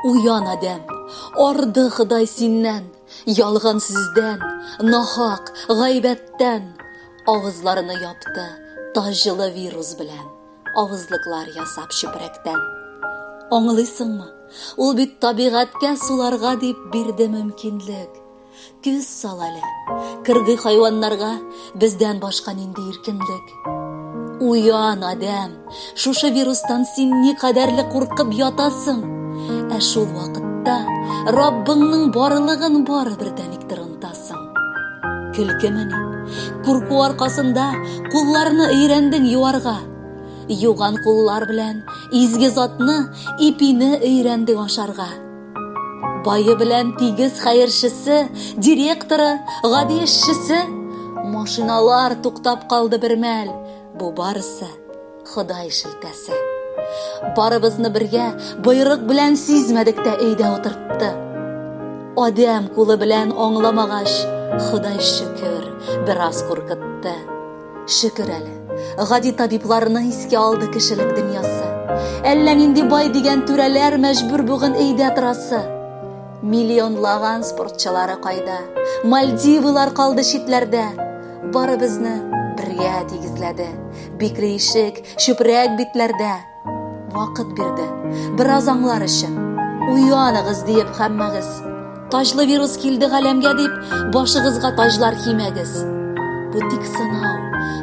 Уян адәм, арды Ходай синнән, ялган сүздән, нахак, гайбәттән. Авызларны япты таҗлы вирус белән, авызлыклар ясап чүпрәктән. Аңлыйсыңмы? Ул бит табигатькә суларга дип бирде мөмкинлек. Күз сал әле, кыргый хайваннарга бездән башка нинди иркенлек. Уян, адәм, шушы вирустан син никадәрле куркып ятасың. Ә шул вакытта Раббыңның барлыгын бары бер дәникдер онтасың. Көлкемени? Курку аркасында кулларны өйрәндең юарга. Юган куллар белән изге затны, ипине өйрәндең ашарга. Бае белән тигез хәерчесе, директоры, гади эшчесе, машиналар туктап калды бер мәл. Бу барысы Ходай шелтәсе. Барыбызны бергә боерык белән сизмәдек тә өйдә утыртты. Адәм кулы белән аңламагач, Ходай шөкер, бераз куркытты. Шөкер әле, гади табибларны искә алды кешелек дөньясы. Әллә нинди бай дигән түрәләр мәҗбүр бүген өйдә торасы. Миллионлаган спортчылары кайда? Мальдивылар калды читләрдә. Барыбызны бергә тигезләде. Бикрейшек, чүпрәк битләрдә. Вакыт бирде. Бераз аңлар өчен. Уяныгыз диеп хәммәгез. Таҗлы вирус килде галәмгә дип, башыгызга таҗлар кимәгез. Бу тик сынау.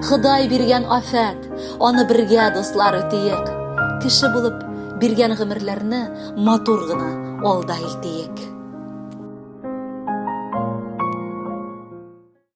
Ходай биргән афәт. Аны бергә дуслар үтиек. Кеше булып биргән гомерләрне матур гына алда илтиек.